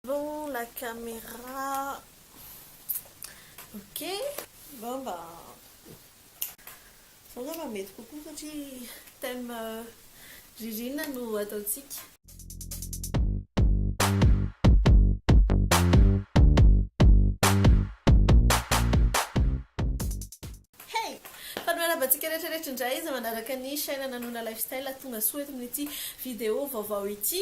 Allo la camera ok zao mba zao nga mba mety kokoa satria thème ririnina no ataontsika. Hey! Fa ny miarabantsika rehetra rehetra indray izay manaraka ny chaîne Nanona Lifestyle tonga soa eto amin'ity vidéo vaovao ity.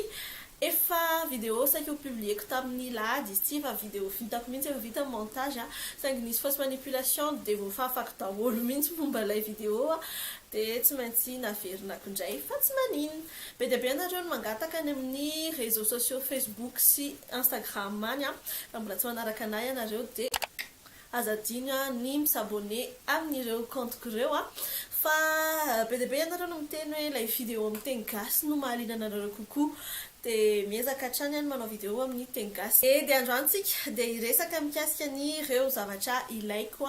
Efa vidéo saika ho publier-ko tamin'ny lahady izy ity fa vidéo vitako mihitsy efa vita ny montage saingy nisy fausse manipulation dia voafafako daholo mihitsy momba ilay vidéo dia tsy maintsy naverinako indray fa tsy maninona. Be dia be ianareo no mangataka any amin'ny réseaux sociaux Facebook sy Instagram any raha mbola tsy manaraka anah ianareo dia Aza adino ny mi s'abonner amin'ireo compte-ko ireo an! Fa be dia be ianareo no miteny hoe ilay vidéo amin'ny teny gasy no mahaliana anareo kokoa. Dia miezaka hatrany aho ny manao vidéo amin'ny teny gasy. Dia dia androany tsika dia hiresaka mikasika an'ireo zavatra ilaiko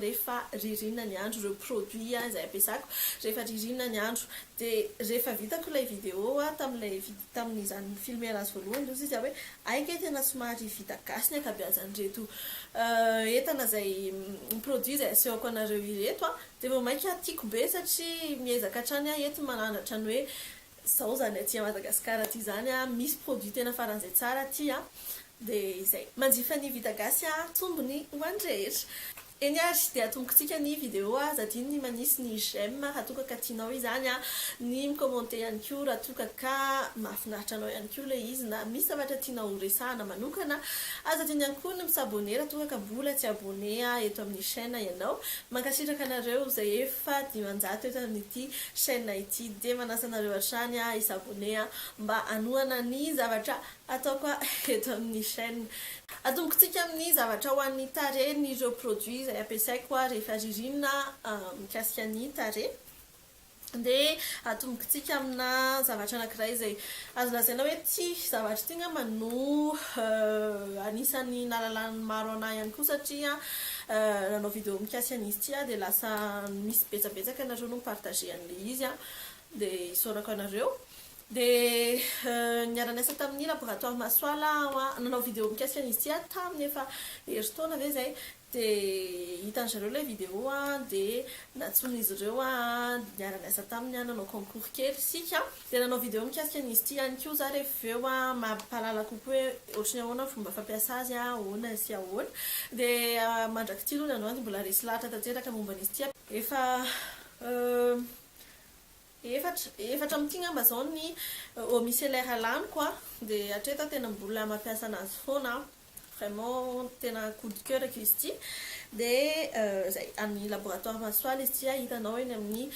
rehefa ririnina ny andro, ireo produits izay ampiasako rehefa ririnina ny andro. Dia rehefa vitako ilay vidéo tamin'ilay vidéo. tamin'izany filmer azy voalohany izao sisa hoe hay kay tena somary vita gasy ny ankabeazan'ireto entana izay produit izay asehoko anareo ireto a! dia vao mainka tiako be satria miezaka hatrany aho eto manandratra ny hoe izao izany aty Madagascar aty izany a! misy produit tena faran'izay tsara aty a! dia izay! manjifa ny vita gasy a! tsombiny ho an'ny rehetra. Eny ary dia atombokitsika ny video a! Aza adino ny manisy ny j'aime raha toa ka tianao izany a! Ny mi-commenter ihany koa raha toa ka ka mahafinaritra anao ihany koa ilay izy na misy zavatra tianao ho resahana manokana. Aza adino ihany koa ny mi-s'abonner raha toa ka mbola tsy abonner eto amin'ny chaîne ianao. Mankasitraka anareo izay efa dimanjato eto amin'ity chaîne ity dia manasa anareo hatrany hi-s'abonner mba hanohana ny zavatra Atao koa eto amin'ny chaîne. Atomboky tsika amin'ny zavatra ho an'ny tarehy ny ireo produits izay ampiasaiko aho rehefa ririnina mikasika ny tarehy. Dia atomboky tsika amina zavatra anankiray izay azo lazaina hoe tia zavatra ity angamba no anisan'ny nahalalan'ny maro anah ihany koa satria nanao vidéo mikasika an'izy ity aho dia lasa misy betsabetsaka ianareo no mi-partager an'ilay izy dia isaorako anareo. Dia niara-niasa tamin'ny laboratoire Masoala aho an, nanao vidéo mikasika an'izy ity aho tamin'ny efa herintaona ve izay, dia hitan-dry zareo ilay vidéo an, dia nantsoin'izy ireo aho an, dia niara-niasa taminy aho, nanao concours kely isika, dia nanao vidéo mikasika an'izy ity ihany koa za rehefa avy eo an, mba hampahalala kokoa hoe ohatry ny ahoana ny fomba fampiasa azy an, ahoana sy ahoana. Dia mandrak'ity aloha ny androany dia mbola resy lahatra tanteraka momba an'izy ity an, efa Efatra, efatra amin'ity ngamba zao ny eau micellaire laniko a, de hatreto a tena mbola mampiasa anazy foana aho, vraiment tena coup de coeur ko izy ity, de zay, any laboratoire Masoala izy ity a, hitanao eny amin'ny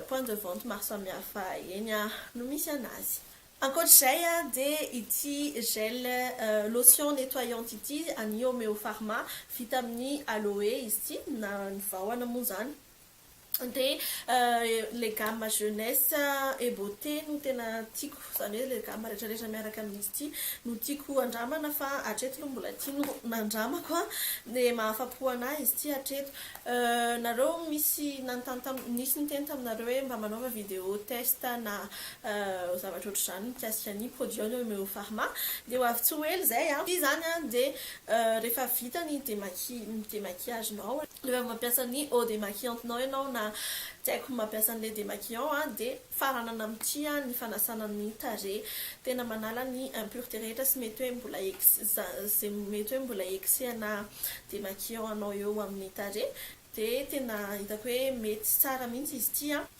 point de vente maro samihafa eny a no misy anazy. Ankoatr'izay a de ity gel lotion nettoyante ity any Homeopharma, vita amin'ny aloe izy ity na ny vahona moa zany, dia ilay gamme jeunesse et beauté no tena tiako, izany hoe ilay gamme rehetrarehetra miaraka amin'izy ity no tiako handramana fa hatreto aloha mbola ity no nandramako dia mahafa-po an'ahy izy ity hatreto. Nareo misy nanontany tam- nisy niteny taminareo hoe mba manaova vidéo test na zavatra ohatr'izany mikasika ny produits Homme Eau Pharma dia ho avy tsy ho ela izay an, ity izany dia Rehefa vita ny demaquillage nao, rehefa mampiasa ny eau demaquillante nao ianao na tsy haiko mampiasa an'ilay demaquillant dia faranana amin'ity ny fanasana ny tarehy. Tena manala ny impureté rehetra sy mety hoe mbola izay mety hoe mbola excès-na demaquillant anao eo amin'ny tarehy dia tena hitako hoe mety sy tsara mihitsy izy ity an!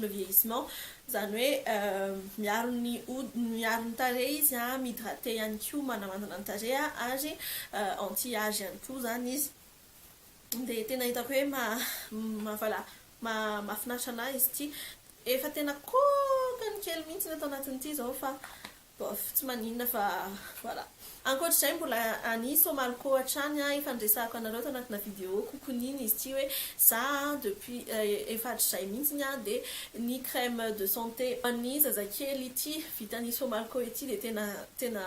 le vieillissement, izany hoe miaro ny hodiny, miaro ny tarehy izy, mi-hydrater ihany koa, manamandina ny tarehy ary anti age ihany koa izany izy. Dia tena hitako hoe voilà mahafinaritra an'ahy izy ity. Efa tena kôkany kely mihitsy ato anatiny ity izao fa Bof, tsy maninona fa voilà. Ankoatra izay mbola any Somalco hatrany aho, efa niresahako anareo tao anatina vidéo kokoniny izy ity hoe za depuis efa hatrizay mihitsiny aho dia ny crème de santé ho an'ny zazakely ity vitan'ny Somalco ity dia tena tena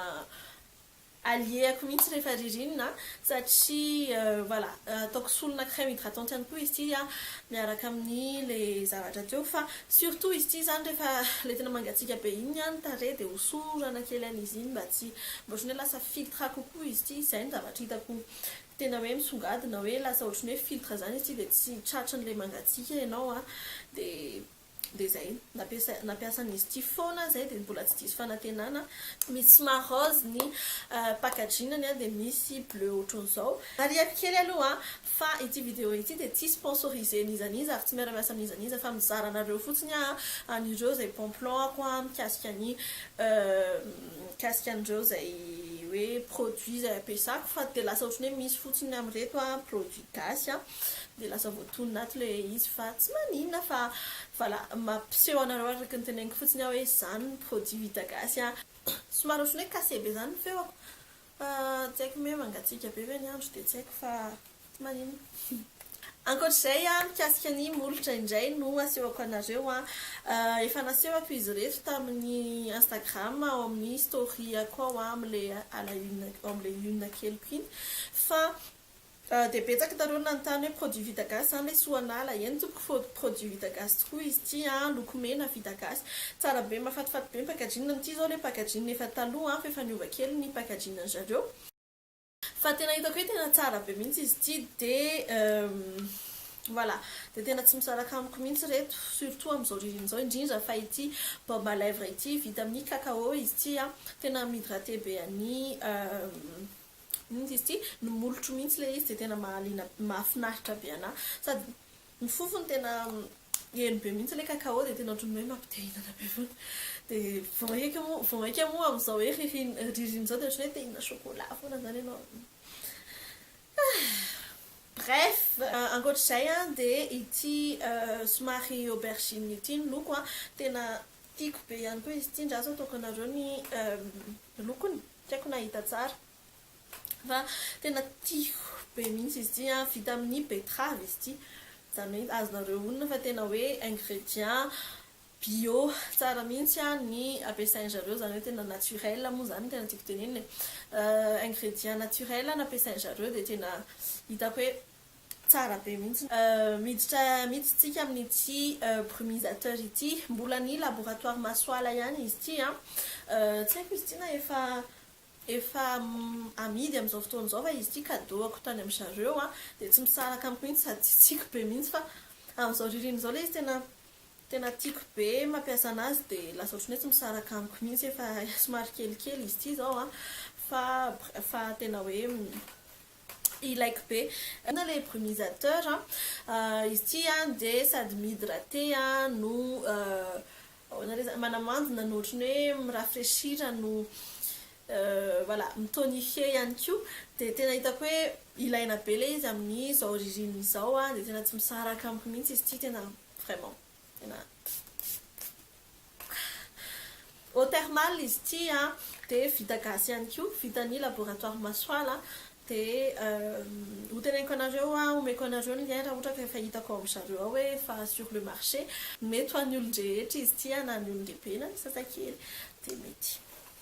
Allier-ko mihitsy rehefa ririnina satria voilà ataoko solona crème hydratante ihany koa izy ity miaraka amin'ny ilay zavatra teo fa surtout izy ity izany rehefa ilay tena mangatsiaka be iny ny tarehy dia hosorana kely an'izy iny mba tsy mba ohatran'ny hoe lasa filtre kokoa izy ity, izay no zavatra hitako tena hoe misongadina hoe lasa ohatran'ny hoe filtre izany izy ity dia tsy tratran'ilay mangatsiaka ianao dia. Dia izay, nampiasa nampiasan'izy ity foana izay dia mbola tsy diso fanantenana, misy marôzy ny packaging-ny an, dia misy bleu ohatran'izao. Marihiko kely aloha fa ity vidéo ity dia tsy sponsorisé n'iza n'iza ary tsy miara-miasa amin'iza n'iza fa mizara anareo fotsiny aho an'ireo izay bon plan ako mikasika ny mikasika an'ireo izay hoe produit izay ampiasako fa dia lasa ohatran'ny hoe misy fotsiny amin'ireto produit gasy an. Dia lasa voatonona ato ilay izy fa tsy maninona fa voilà mampiseho anareo araka ny teneniko fotsiny aho hoe izany ny produit vita gasy a. Somary ohatran'ny hoe cassé be izany ny feoko fa tsy haiko ny hoe mangatsiaka be ve ny andro dia tsy haiko fa tsy maninona. Ankoatr'izay a, mikasika ny molotra indray no asehoko anareo a. Efa nasehoko izy ireto tamin'ny Instagram ao amin'ny story-ako ao amin'ilay à la une, ao amin'ilay une keliko iny fa Raha dia betsak nareo nanontany hoe produit vita gasy zany le soanala, eny tompoko fô produit vita gasy tokoa izy ity an, loko mena vita gasy, tsara be mafatifaty be ny packaging, ny ity zao le packaging efa taloha an, fa efa niova kely ny packaging ny zareo, fa tena hitako hoe tena tsara be mihitsy izy ity de voilà de tena tsy misaraka amiko mihitsy reto surtout amizao ririnina zao indrindra fa ity baume à lèvres ity vita amin'ny cacao izy ity an, tena mi-hydrater be an'i. Mihitsy izy ity no molotro mihitsy ilay izy dia tena mahaliana mahafinaritra be ana sady ny fofony tena heno be mihitsy ilay cacao dia tena ohatran'ny hoe mampitehinana be foana dia vao maika moa vao maika moa amin'izao hoe ririnina ririnina izao dia ohatran'ny hoe tehinina chocolat foana izany ianao bref ankoatr'izay a dia ity somary aubergine ity ny loko a tena tiako be ihany koa izy ity ndraso ataoko anareo ny lokony Tsy haiko na hita tsara fa tena tiako be mihitsy izy ity an! Vita amin'ny betterave izy ity, izany hoe azonareo onona fa tena hoe ingrédients bio tsara mihitsy ny ampiasain-dry zareo, izany hoe tena naturel moa izany no tena tiako tenenina e! Ingrédients naturels no ampiasain-dry zareo dia tena hitako hoe Tsara be mihitsy. Miditra mihitsy tsika amin'ity brumisateur ity. Mbola ny laboratoire Masoala ihany izy ity an. Tsy haiko izy ity na efa efa amidy amin'izao fotoana izao fa izy ity kadoako tany amin'i zareo an. Dia tsy misaraka amiko mihitsy sady tsy tiako be mihitsy fa amin'izao ririnina izao ilay izy tena tena tiako be mampiasa an'azy dia lasa ohatran'ny hoe tsy misaraka amiko mihitsy efa somary kelikely izy ity izao an. Fa fa tena hoe ilaiko be. Inona ilay brumisateur an? Izy ity dia sady mi-hydrater no ahoana re izany? manamandina no ohatran'ny hoe mi-rafraîchir no voilà mi-tonifier ihany koa. Dia tena hitako hoe ilaina be ilay izy amin'izao ririnina izao dia tena tsy misaraka amiko mihitsy izy ity tena vraiment. Tena. Eau thermale izy ity an, dia vita gasy ihany koa, vitan'ny laboratoire Masoala, dia ho teneniko anareo an, homeko anareo ny lien raha ohatra ka efa hitako ao amin'ny zareo ao hoe efa sur le marché, mety ho an'ny olon-drehetra izy ity an, na ny olon-dehibe na ny zazakely dia mety.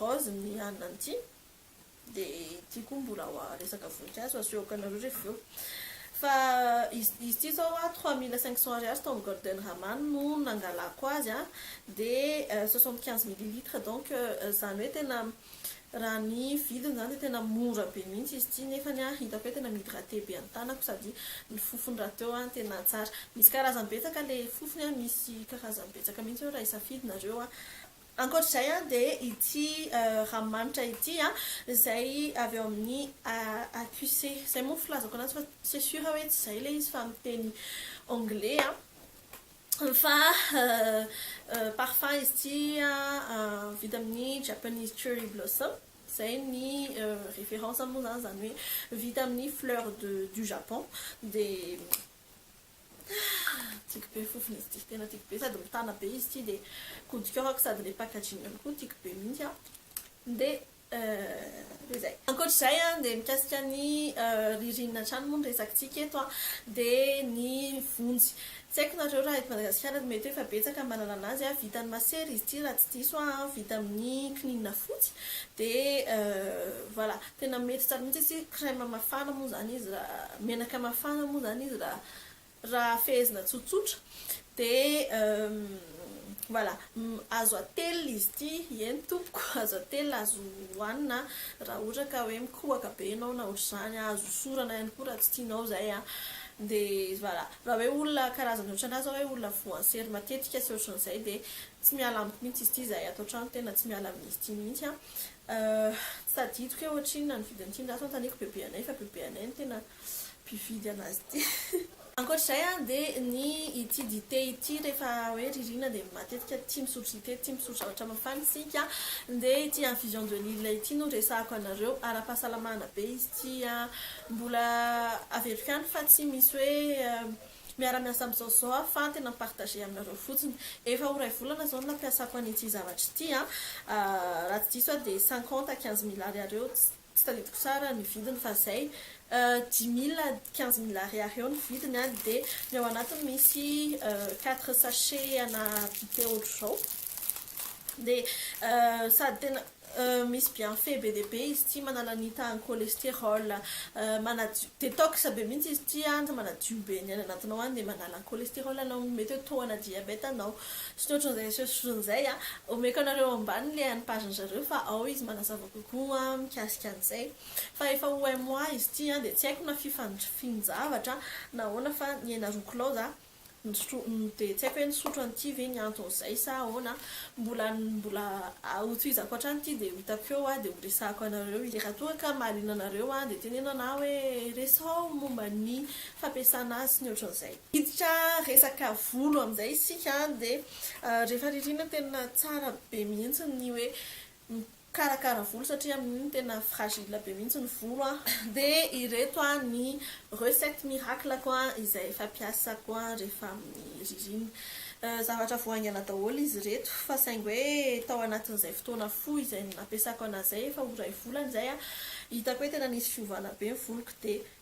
Rose ny anona an'ity de ity koa mbola wa resaka voninkazo asehoko anareo refa avy eo fa izy izy ity zao a trois mille cinq cents ariary tao am golden Raman no nangalako azy a de soixante quinze millilitres donc zany hoe tena raha ny vidiny zany de tena mora be mihitsy izy ity nefany a hitako hoe tena mi-hydrater be ny tanako sady ny fofony rahateo a tena tsara misy karazany betsaka le fofony a misy karazany betsaka mihitsy eo raha hisafidy nareo a. Ankoatr'izay dia ity ranomanitra ity izay avy ao amin'ny AQC. Izay moa ny filazako an'azy fa c'est sûr hoe tsy izay ilay izy fa amin'ny teny anglais. Fa parfum izy ity vita amin'ny Japanese Cherry Blossom. Izay ny référence moa izany, izany hoe vita amin'ny fleurs du Japon. Dia. Tiako be ny fofon izy ity, tena tiako be sady mitana be izy ity dia godik'orako sady ilay packaging-ny koa tiako be mihintsy an! Dia dia izay. Ankoatra izay an, dia mikasika ny ririnina hatrany moa ny resakitsika eto an, dia ny vonjy. Tsy haiko nareo raha eto Madagasikara dia mety hoe efa betsaka manana anazy an, vita amin'ny masera izy ity raha tsy diso aho an, vita amin'ny kininina fotsy dia voilà. Tena mety tsara mihitsy izy crème mafana moa zany izy raha menaka mafana moa zany izy raha raha fehezina tsotsotra dia voilà azo atelina izy ity eny tompoko azo atelina azo hohanina raha ohatra ka hoe mikohaka be ianao na ohatr'izany azo hosorana ihany koa raha tsy tianao izay a dia voilà raha hoe olona karazany ohatranà zao hoe olona voansery matetika sy ohatran'izay dia tsy miala amiko mihitsy izy ity izahay ato an-trano tena tsy miala amin'izy ity mihitsy a Euh tsy tadidiko hoe ohatrinona ny vidiny ity, ndaty anontaniako bebe anay fa bebe anay no tena mpividy anazy ity. Ankoatra izay an dia ny ity dite ity rehefa hoe ririnina dia matetika tia misotro dite, tia misotro zavatra mafana isika dia ity infusion de lille ity no resahako anareo, ara-pahasalamana be izy ity an, mbola averiko ihany fa tsy misy hoe Miara-miasa amin'izao zao aho fa tena mi-partager aminareo fotsiny. Efa ho iray volana zao ny nampiasako an'ity zavatra ity an! Raha tsy diso aho dia cinquante à quinze mille ariary eo, tsy tadidiko tsara ny vidiny fa izay, dix mille à quinze mille ariary eo ny vidiny an! Dia ny ao anatiny misy quatre sachets ana dite ohatr'izao. Dia sady tena. Misy bienfait be dia be izy ity, manala ny tahan'ny cholestérol, manadio, détox be mihitsy izy ity an, manadio be ny any anatinao any dia manala ny cholestérol anao, mety hoe tohana diabète anao, sy ny ohatran'izay sy ny ohatran'izay an, omeko anareo ambany ilay an'ny page-ny zareo fa ao izy manazava kokoa mikasika an'izay. Fa efa ho un mois izy ity an, dia tsy haiko na fifandr, fin-javatra na ahoana fa ny aina roa kilaozy an, Misotro dia tsy haiko hoe nisotro an'ity ve ny anton'izay sa ahoana, mbola mbola hotohizako hatrany ity dia ho hitako eo dia ho resahako anareo izy. Raha toa ka mahaliana anareo dia teneno ahy hoe resao momba ny fampiasana azy sy ny ohatran'izay. Hiditra resaka volo amin'izay isika dia rehefa ririnina tena tsara be mihitsy ny hoe mikarakara volo satria amin'iny tena fragile be mihitsy ny volo an, dia ireto ny recettes miracles-ko izay fampiasako rehefa amin'ny ririnina. Zavatra vao haingana daholo izy ireto fa saingy hoe tao anatin'izay fotoana fohy izay nampiasako an'azy izay efa ho iray volana izay an, hitako hoe tena nisy fiovana be ny voloko dia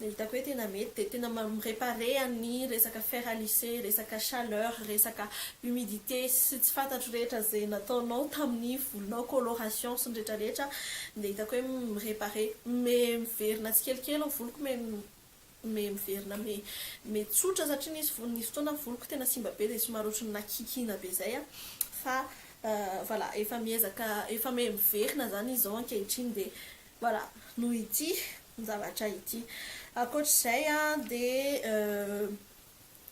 Ny hitako hoe tena mety dia tena mi-reparer an'ny resaka fer à lisser, resaka chaleur, resaka humidité sy tsy fantatro rehetra izay nataonao tamin'ny volonao, coloration sy ny rehetra rehetra dia hitako hoe mi-reparer, mi-miverina tsikelikely ny voloko, mi-miverina mi-tsotra satria nisy nisy fotoana voloko tena simba be dia somary ohatran'ny nakikiana be izay fa voilà efa miezaka efa mi-miverina izany izy izao ankehitriny dia Voilà, noho ity zavatra ity. Ankoatra izay dia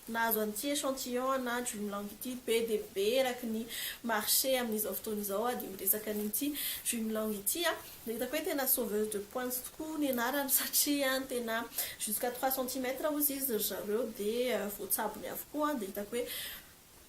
nahazo an'ity échantillon ana Dream Long ity be dia be eraky ny marché amin'izao fotoana izao aho dia miresaka an'ity Dream Long ity aho. Dia hitako hoe tena sauveuse de pointe tokoa ny anarany satria tena jusqu'à trois centimètres hozy izy ry zareo dia voatsabony avokoa dia hitako hoe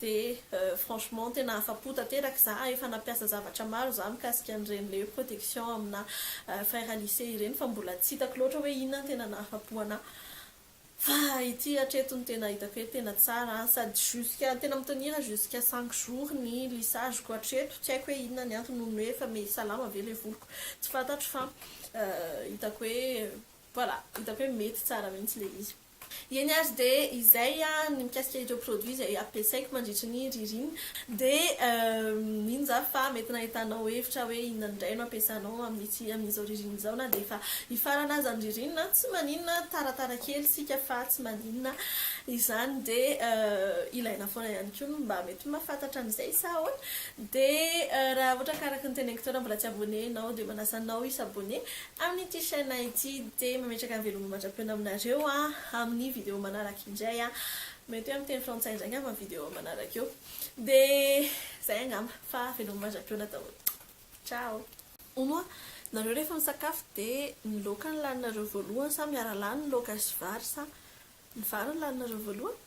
Dia franchement tena afa-po tanteraka za, efa nampiasa zavatra maro za mikasika an'ireny le protection amina fer à lisser ireny fa mbola tsy hitako loatra hoe inona no tena nahafa-po anah. Fa ity hatreto no tena hitako hoe tena tsara an, sady jusqu'à tena mi-tenir jusqu'à cinq jours ny lissage ko hatreto, tsy haiko hoe inona ny antony nohon'ny hoe efa me salama ve le voloko, tsy fantatro fa hitako hoe voilà, hitako hoe mety tsara mihitsy le izy. Eny ary dia izay an, ny mikasika ireo produits izay ampiasaiko mandritry ny ririnina dia mino za fa mety nahitanao hevitra hoe inona indray no ampiasanao amin'ity amin'izao ririnina izao na dia efa hifarana aza ny ririnina, tsy maninona taratara kely isika fa tsy maninona izany dia ilaina foana ihany koa ny mba mety mahafantatra an'izay sa ahoana? Dia raha ohatra ka araka ny teneniko teo raha mbola tsy abonné ianao dia manasa anao hi s'abonné Amin'ity chaîne ity dia mametraka ny veloma mandrapiona aminareo amin'ny vidéo manaraka indray. Mety hoe amin'ny teny frantsay indray angamba ny vidéo manaraka io. Dia izay angamba fa veloma mandrapiona daholo. Ciao! Hoy moa nareo rehefa misakafo dia ny laoka no laninareo voalohany sa miara-lany ny laoka sy vary sa ny vary no laninareo voalohany?